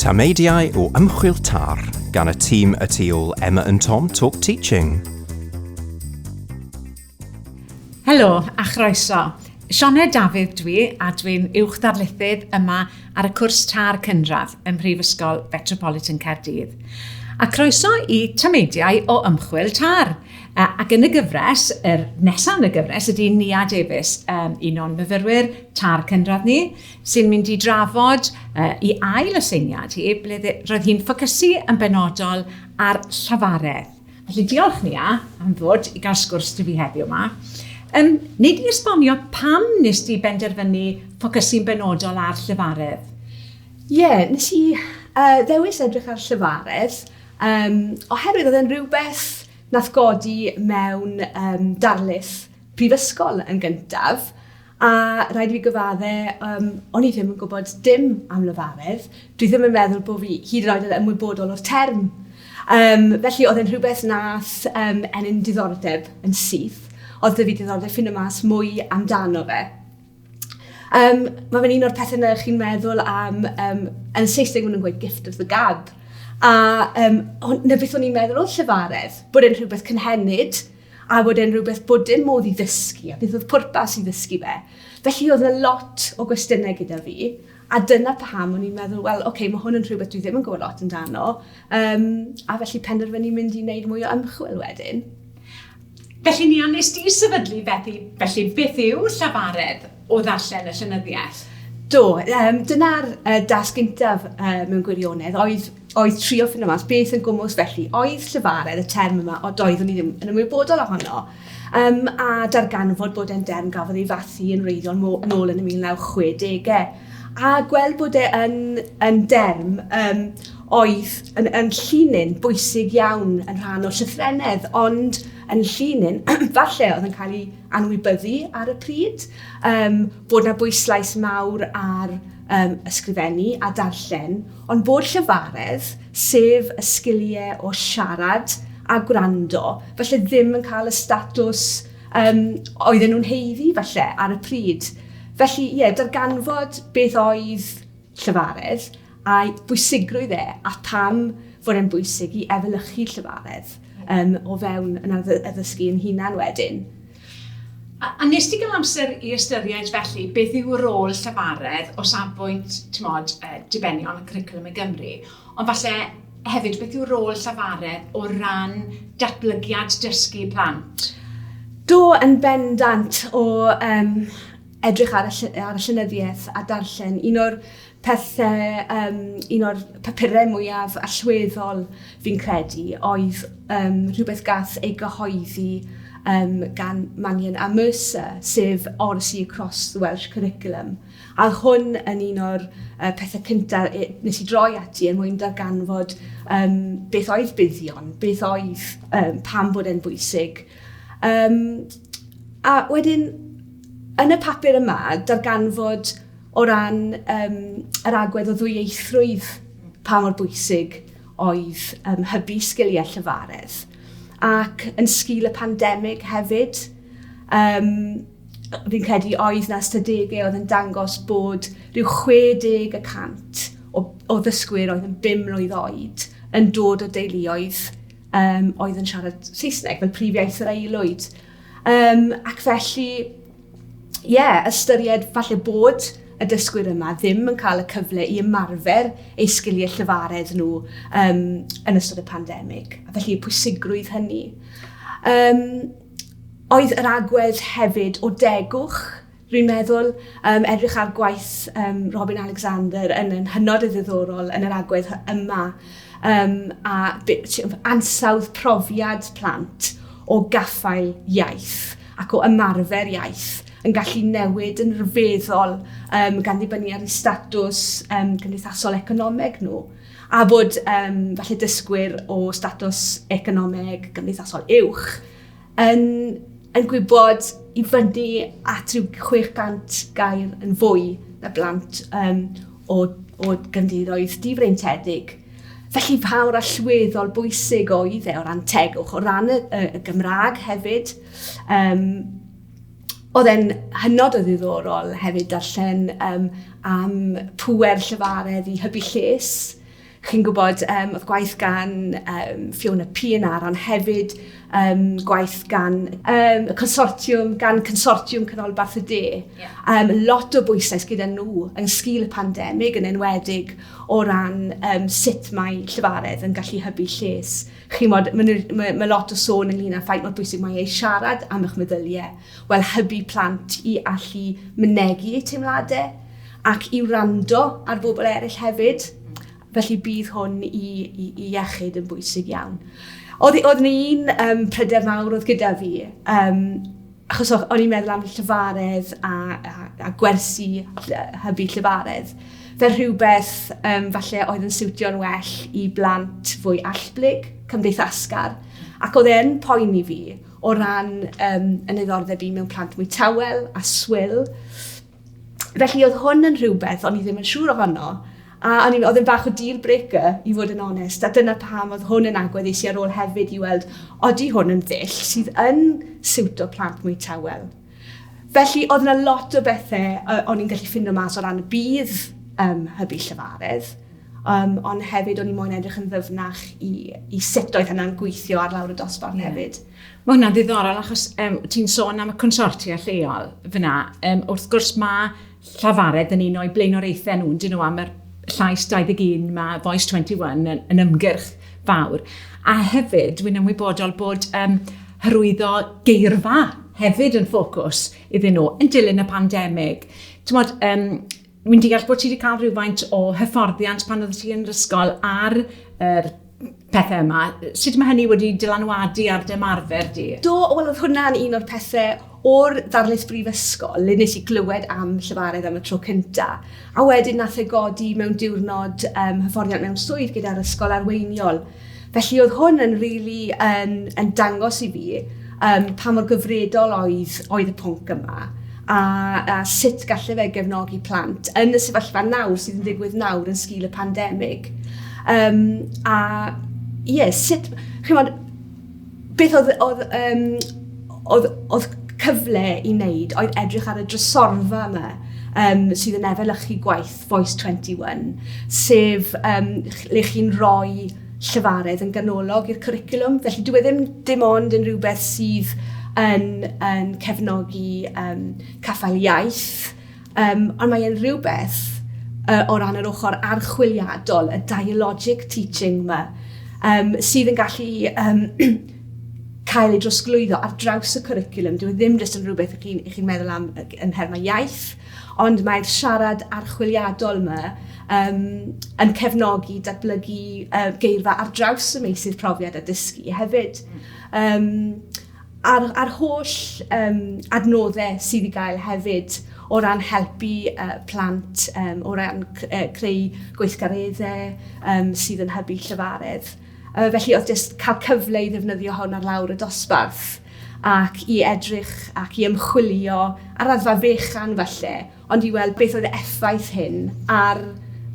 Tameidiau o ymchwil tar gan y tîm y tu ôl Emma and Tom Talk Teaching. Helo a chroeso. Sioned Dafydd dwi a dwi'n uwch darlithydd yma ar y cwrs târ cynradd ym Mhrifysgol Fetropolitan Caerdydd. A croeso i tameidiau o ymchwil târ. Ac yn y gyfres, yr nesaf yn y gyfres, ydy Nia Davies, um, un o'n myfyrwyr târ cynradd ni, sy'n mynd i drafod uh, i ail aseiniad hi, ble roedd hi'n ffocysu yn benodol ar llafaredd. Felly diolch Nia am ddod i gael sgwrs dy fi heddiw yma. Um, nid i esbonio pam nes di benderfynu ffocysu'n benodol ar llefaredd? Ie, yeah, nes i uh, ddewis edrych ar llefaredd um, oherwydd oedd yn rhywbeth nath godi mewn um, darlith prifysgol yn gyntaf A rhaid i fi gyfadde, um, o'n i ddim yn gwybod dim am lefaredd. Dwi ddim yn meddwl bod fi hyd yn oed yn ymwybodol o'r term. Um, felly oedd e'n rhywbeth nath um, enyn diddordeb yn syth. Oedd dyfu diddordeb ffyn y mas mwy amdano fe. Um, mae fe'n un o'r pethau yna chi'n meddwl am, um, yn Saesneg maen nhw'n gweud gift of the gab. A um, na beth o'n i'n meddwl o llefaredd, bod e'n rhywbeth cynhenid, a bod e'n rhywbeth bod dim modd i ddysgu, a beth oedd pwrpas i ddysgu fe. Felly oedd yna lot o gwestiynau gyda fi, a dyna paham o'n i'n meddwl, wel, oce, okay, mae hwn yn rhywbeth dwi ddim yn gwybod lot amdano, um, a felly penderfynu mynd i wneud mwy o ymchwil wedyn. Felly, Nia, nes di sefydlu Bethy, felly beth yw llafaredd? o ddarllen y llenyddiaeth? Do, um, dyna'r uh, dasg gyntaf uh, mewn gwirionedd, oedd, oedd trio ffynu mas beth yn gwmwys felly, oedd llyfaredd y term yma, o doeddwn i ddim yn ymwybodol ohono, um, a darganfod bod e'n derm gafodd ei fathu yn wreiddiol nôl yn y 1960au, a gweld bod e yn, yn derm um, oedd yn, yn llinyn bwysig iawn yn rhan o llythrenedd, ond yn llinyn, falle oedd yn cael ei anwybyddu ar y pryd, um, bod na bwyslais mawr ar um, ysgrifennu a darllen, ond bod llyfaredd, sef y sgiliau o siarad a gwrando, falle ddim yn cael y statws um, oedden nhw'n heiddi falle ar y pryd. Felly, ie, yeah, darganfod beth oedd llyfaredd a'i bwysigrwydd e a pam fod e'n bwysig i efelychu llefaredd um, o fewn yn addysgu yn hunan wedyn. A, a nes ti gael amser i ystyried felly beth yw rôl llefaredd o safbwynt, ti'n modd, uh, dibenion y curriculum i Gymru, ond falle hefyd beth yw rôl llefaredd o ran datblygiad dysgu plant? Do, yn bendant o um, edrych ar y, ar y llenyddiaeth a darllen. Un o'r Pethe, um, un o'r papurau mwyaf allweddol fi'n credu oedd um, rhywbeth gath ei gyhoeddi um, gan Mannion a Mercer, sef Odyssey Across the Welsh Curriculum. A hwn yn un o'r uh, pethau cyntaf e, nes i droi ati er mwyn darganfod um, beth oedd buddion, beth oedd um, pam bod e'n bwysig. Um, a wedyn, yn y papur yma, darganfod o ran um, yr agwedd o ddwyieithrwydd, pa mor bwysig oedd um, hybu sgiliau llyfaredd. Ac yn sgil y pandemig hefyd, um, fi'n credu oedd na ystadegau oedd yn dangos bod rhyw 60 y cant o, o ddysgwyr oedd yn 5 mlynedd oed yn dod o deuluoedd um, oedd yn siarad Saesneg fel prif iaith yr aelwyd. Um, ac felly, ie, yeah, ystyried falle bod y dysgwyr yma ddim yn cael y cyfle i ymarfer eu sgiliau llyfaredd nhw um, yn ystod y pandemig, a felly y pwysigrwydd hynny. Um, oedd yr agwedd hefyd o degwch, rwy'n meddwl, um, edrych ar gwaith um, Robin Alexander yn, yn hynod o ddiddorol yn yr agwedd yma, um, a ansawdd profiad plant o gaffael iaith. ac o ymarfer iaith yn gallu newid yn rhyfeddol um, gan ddibynnu ar eu statws um, cymdeithasol economeg nhw a bod um, falle dysgwyr o statws economeg gymdeithasol uwch yn, yn gwybod i fyny at rhyw 600 gair yn fwy na blant um, o, o gymdeithoedd difreintedig. Felly fawr allweddol bwysig oedd e o ran tegwch, o ran y, y, y Gymraeg hefyd. Um, oedd e'n hynod o ddiddorol hefyd darllen um, am pwer llyfaredd i hybu lles. Chi'n gwybod, um, oedd gwaith gan um, Fiona Pienaar, ond hefyd um, gwaith gan um, y consortiwm, gan consortiwm Canol Barth y De. Yeah. Um, lot o bwysau gyda nhw yn sgil y pandemig yn enwedig o ran um, sut mae llefaredd yn gallu hybu lles. Chimod, mae, mae, mae lot o sôn ynglyn â'r ffaith mor bwysig mae ei siarad am eich meddyliau. Wel, hybu plant i allu mynegu eu teimladau ac i wrando ar bobl eraill hefyd. Felly bydd hwn i, i, i iechyd yn bwysig iawn. Oedd, oedd yna un um, pryder mawr oedd gyda fi. Um, Achos o'n i'n meddwl am llefaredd a, a, a gwersi hybu llefaredd. Fel rhywbeth um, falle oedd yn siwtio'n well i blant fwy allblyg, cymdeithasgar. Ac oedd e'n poen i fi o ran um, yn ddiddordeb i mewn plant mwy tawel a swyl. Felly oedd hwn yn rhywbeth o'n i ddim yn siŵr ohono, a o'n i'n oedd yn bach o deal breaker i fod yn onest, a dyna pam oedd hwn yn agwedd eisiau ar ôl hefyd i weld odi hwn yn ddull sydd yn siwt o plant mwy tawel. Felly oedd yna lot o bethau uh, o'n i'n gallu ffindo mas o ran y bydd um, hybu llyfaredd, um, ond hefyd o'n i moyn edrych yn ddyfnach i, i sut oedd hynna'n gweithio ar lawr y dosbarth yeah. hefyd. Mae hwnna'n ddiddorol achos um, ti'n sôn am y consortia lleol fyna. Um, wrth gwrs mae Llafared yn un o'i blaenoriaethau nhw, dyn nhw am yr llais 21, mae Voice 21 yn, yn ymgyrch fawr. A hefyd, dwi'n ymwybodol bod um, hyrwyddo geirfa hefyd yn ffocws iddyn nhw yn dilyn y pandemig. Mod, um, Wi'n deall bod ti wedi cael rhywfaint o hyfforddiant pan oedd ti yn yr ysgol ar yr pethau yma. Sut mae hynny wedi dylanwadu ar dy ymarfer di? Do, wel oedd hwnna'n un o'r pethau o'r ddarlith brifysgol le nes i glywed am llefarydd am y tro cynta. A wedyn nath e godi mewn diwrnod um, hyfforddiant mewn swydd gyda'r ysgol arweiniol. Felly oedd hwn yn rili yn yn dangos i fi um, pa mor gyfredol oedd, oedd y pwnc yma a, a sut gallu fe gefnogi plant yn y sefyllfa nawr sydd yn digwydd nawr yn sgil y pandemig. Um, a ie, yeah, sut, chymod, beth oedd, oedd, um, oedd, oedd cyfle i wneud oedd edrych ar y drysorfa yma um, sydd yn efelychu gwaith Voice 21, sef um, le chi'n rhoi llyfaredd yn ganolog i'r cwricwlwm. Felly dwi e ddim dim ond yn rhywbeth sydd yn, yn cefnogi um, caffael iaith Um, ond mae e'n rhywbeth uh, o ran yr ochr archwiliadol, y dialogic teaching yma, um, sydd yn gallu um, cael ei drosglwyddo ar draws y cwricwlwm. Dwi e ddim jyst yn rhywbeth ych chi'n chi meddwl am yn nhermau iaith, ond mae'r siarad archwiliadol yma um, yn cefnogi datblygu uh, geirfa ar draws y meisydd profiad a dysgu hefyd. Um, a'r, a'r holl um, adnoddau sydd i gael hefyd o ran helpu uh, plant, um, o ran uh, creu gweithgareddau um, sydd yn hybu llyfaredd. Uh, felly oedd jyst cael cyfle i ddefnyddio hwn ar lawr y dosbarth ac i edrych ac i ymchwilio ar raddfa fechan falle ond i weld beth oedd y effaith hyn ar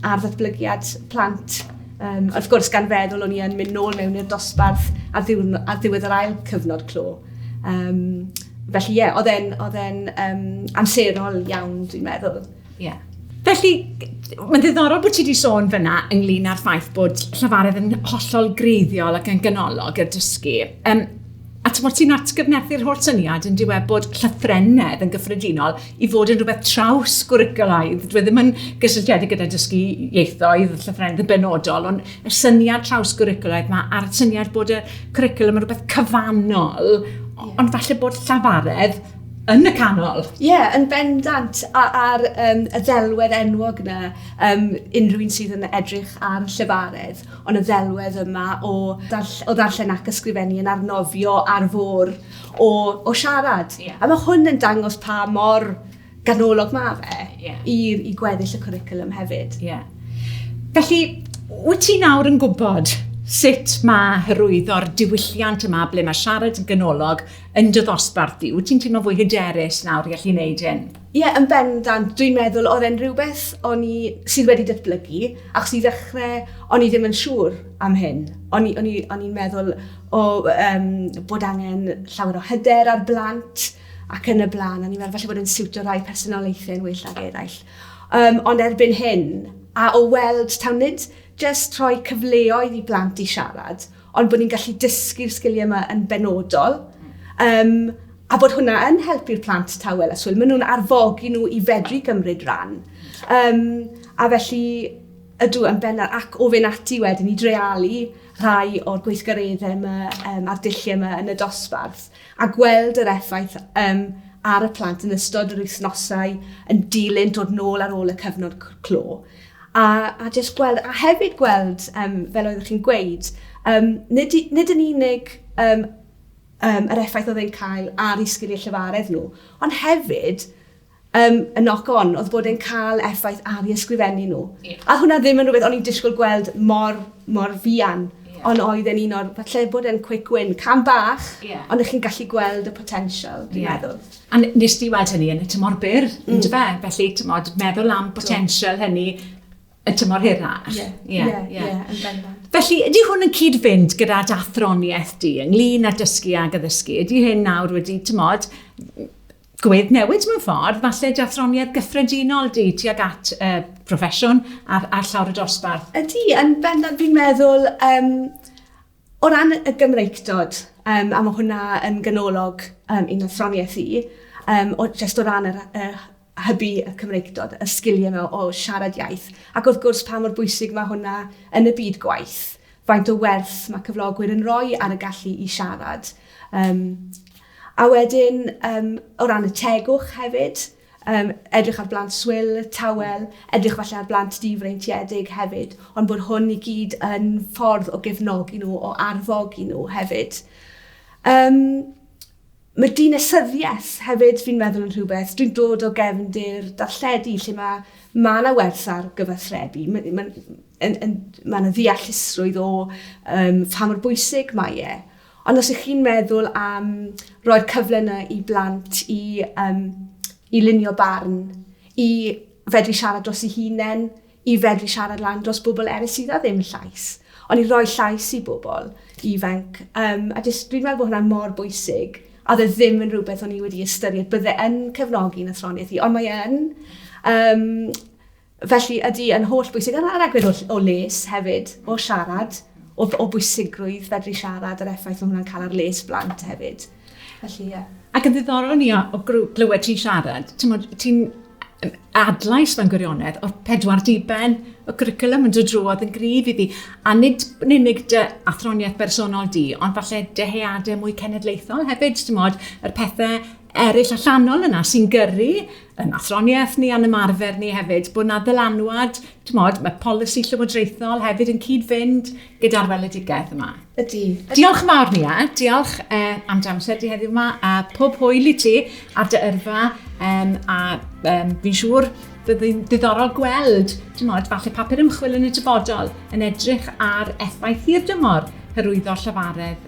ar ddatblygiad plant. Um, wrth gwrs, gan feddwl o'n i yn mynd nôl mewn i'r dosbarth ar, ddiwrno, ar ddiwedd yr ail cyfnod clo. Um, felly, ie, yeah, oedd e'n e um, amserol iawn, dwi'n meddwl. Ie. Yeah. Felly, mae'n ddiddorol bod ti wedi sôn fyna ynglyn â'r ffaith bod llafaredd yn hollol greiddiol ac yn ganolog i'r dysgu. Um, A ti'n ti atgyfnerthu'r holl syniad yn diwedd bod llythrennedd yn gyffredinol i fod yn rhywbeth traws gwrygolaidd. Dwi e ddim yn gysylltiedig gyda dysgu ieithoedd, llythrennedd yn benodol, ond y syniad traws gwrygolaidd mae a'r syniad bod y cwricwlwm yn rhywbeth cyfannol, ond falle bod llafaredd yn y canol. Ie, yeah, yn bendant ar um, y ddelwedd enwog yna, um, unrhyw un sydd yn edrych ar llefaredd. Ond y ddelwedd yma o, darll o ddarllen ac ysgrifennu yn arnofio ar fôr o, o siarad. Yeah. A mae hwn yn dangos pa mor ganolog mae fe yeah. i, i gweddill y cwricwlwm hefyd. Yeah. Felly, wyt ti nawr yn gwybod sut mae hyrwyddo'r diwylliant yma ble mae siarad yn ganolog yn dy ddosbarth di? Wyt ti'n teimlo fwy hyderus nawr i allu wneud hyn? Ie, yn bendant. Dwi'n meddwl, oedd e'n rhywbeth o'n i... sydd wedi datblygu, achos i ddechrau, o'n i ddim yn siŵr am hyn. O'n i... o'n i... o'n i'n meddwl o yym bod angen llawer o hyder ar blant ac yn y blaen. O'n i'n meddwl falle bod e'n siwtio rhai personoliaethau yn well nag eraill. Yym, ond erbyn hyn, a o weld, taw nid jyst rhoi cyfleoedd i blant i siarad, ond bod ni'n gallu dysgu'r sgiliau yma yn benodol. Um, a bod hwnna yn helpu'r plant tawel a swyl. Maen nhw'n arfogi nhw i fedru gymryd ran. Um, a felly, ydw yn benna ac o fe'n ati wedyn i drealu rhai o'r gweithgareddau yma um, a'r dulliau yma yn y dosbarth a gweld yr effaith um, ar y plant yn ystod yr wythnosau yn dilyn dod nôl ar ôl y cyfnod clo. A, a jyst gweld, a hefyd gweld, um, fel oeddech chi'n gweud, um, nid, nid yn unig um, um, yr effaith oedd e'n cael ar ei sgiliau llefaredd nhw, ond hefyd um, y knock on oedd bod e'n cael effaith ar ei ysgrifennu nhw. Yeah. A hwnna ddim yn rhywbeth o'n i'n disgwyl gweld mor, mor fian ond oedd e'n un o'r, falle bod e'n quick win, cam bach, yeah. ond ych chi'n gallu gweld y potensial, dwi'n yeah. meddwl. A n- nes di weld hynny yn y tymor byr, mm. ynddo fe? Felly, tymod, meddwl am potensial hynny y tymor hirach. Ie, ie, ie, ie, yn bendant. Felly, ydy hwn yn cyd-fynd gyda dathroniaeth di ynglyn â dysgu ag addysgu? Ydy hyn nawr wedi, tymod, gwedd newid mewn ffordd, falle dathroniaeth gyffredinol di tuag at uh, proffesiwn a'r, ar llawr y dosbarth? Ydy, yn bendant, fi'n meddwl, um, O ran y Gymreictod, yym, a ma' hwnna yn ganolog yym i'n athroniaeth i, yym, o- jyst o ran yr yy hy- hybu y Cymreictod, y sgilie 'na o siarad iaith, ac wrth gwrs pa mor bwysig ma' hwnna yn y byd gwaith, faint o werth ma' cyflogwyr yn roi ar y gallu i siarad. Yym. A wedyn yym o ran y tegwch hefyd, Yym, edrych ar blant swil, tawel, edrych falle ar blant difreintiedig hefyd, ond bod hwn i gyd yn ffordd o gefnogi nhw, o arfogi nhw hefyd. Yym, mae dinasyddiaeth hefyd, fi'n meddwl yn rhywbeth, dwi'n dod o gefndir darlledu lle mae ma yna werth ar gyfathrebu, mae ma, yn, yn, ma yna ddeallusrwydd o um, pa mor bwysig mae e, Ond os ych chi'n meddwl am roi'r cyfle yna i blant i, um, i lunio barn, i fedru siarad dros ei hunain, i fedru siarad lan dros bobl eraill sydd â ddim llais, ond i roi llais i bobl ifanc. Um, a jyst, dwi'n meddwl bod hwnna mor bwysig, a dde ddim yn rhywbeth o'n i wedi ystyried bydde yn cefnogi yn athroniaeth i, ond mae yn. Um, Felly, ydy yn holl bwysig, a'r a'r agwedd o o les hefyd, o siarad, o o bwysigrwydd fedru siarad, yr effaith mae hwnna'n cael ar les blant hefyd. Felly, ie. Ac yn ddiddorol ni o, o glywed ti'n siarad, ti'n ti adlais mewn gwirionedd o'r pedwar diben y cwricwlwm yn dod drwodd yn gryf i fi. A nid yn unig dy athroniaeth bersonol di, ond falle dyheadau mwy cenedlaethol hefyd, ti'n modd, yr pethau eraill allanol yna sy'n gyrru yn athroniaeth ni a'n ymarfer ni hefyd bod na ddylanwad, tmod, mae polisi llywodraethol hefyd yn cyd-fynd gyda'r weledigaeth yma. Ydy. Diolch yn fawr Nia, diolch eh, am dy amser di heddiw yma a pob hwyl i ti ar dy yrfa um, a um, fi'n siŵr bydd hi'n ddiddorol gweld, tmod, falle papur ymchwil yn y dyfodol yn edrych ar effaith hir dymor hyrwyddo llafaredd